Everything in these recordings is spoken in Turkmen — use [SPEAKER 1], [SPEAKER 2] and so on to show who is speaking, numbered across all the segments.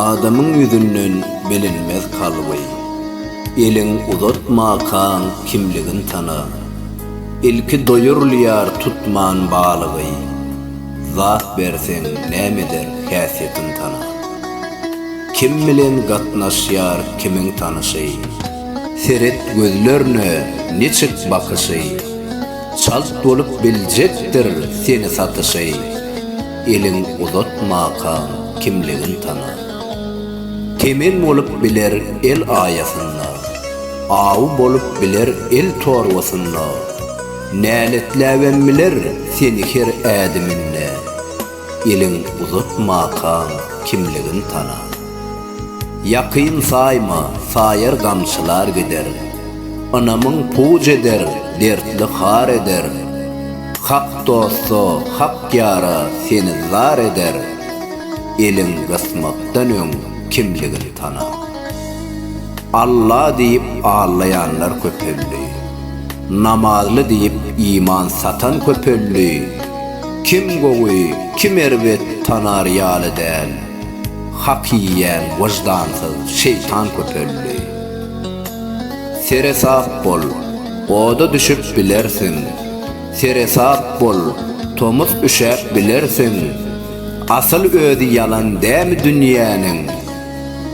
[SPEAKER 1] Adamyň ýüzünden bilinmez kalby. Eliň uzatmakaň kimligin tana. Ilki doýurylýar tutman balygy. Zat berseň näme eder häsiýetin tana. Kim bilen gatnaşýar kimiň tanyşy. Seret gözlerine niçik bakyşy. Çalt bolup biljekdir seni satyşy. Elin uzatmakaň kimligin tana. Temen bolup biler el aýasynda, Awy bolup biler el torbasynda, Näletläbem biler seni her ädiminde, Elin uzatmakaň kimligin tana. Ýakyn saýma, saýar gamçylar gider. Ynamyň puj eder, dertli har eder. Hak dosta, hak ýara seni zar eder. Eliň gysmakdan öň kimligin tana. Alla diýip allaýanlar köpeldi. Namazly diýip iman satan köpeldi. Kim gowy, kim erbet tanar ýaly däl. Hak iýýän wyždansyz şeýtan köpeldi. Seresap bol, oda düşüp bilersiň, Seresap bol, tomus üşäp bilersiň, Asyl özi ýalan dämi dünýäniň,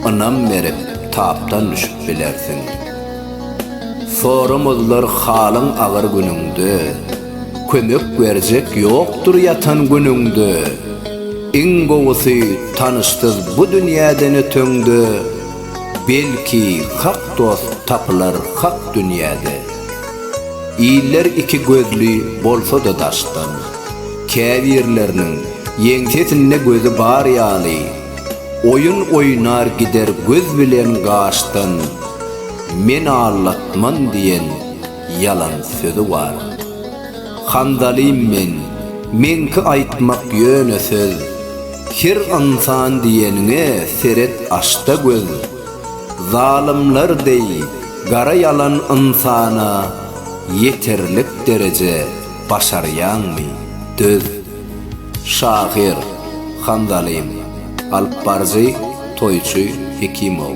[SPEAKER 1] Ynam berip tapdan düşüp bilersiň. Soramazlar halyň agyr günüňde. Kömek berjek ýokdur ýatan günüňde, Iň gowusy tanyşsyz bu dünýäden öteňde, Belki hak dost tapylar hak dünýäde. Iller iki gözli bolsa-da daşdan, Käbirleriniň ýeňsesinde gözi bar ýaly, Oýun oýnar gider göz bilen gaşdan, Men aldatman diýen, ýalan sözi bar. Handalym men, meňki aýtmak ýöne söz, Her ynsan diýeniňe seret aç-da göz. Zalymlar deý gara ýalan ynsana ýeterlik dereje başarýaňmy, döz. Şahyr, Handalym, alypbaryjy, toýçy Hekimow.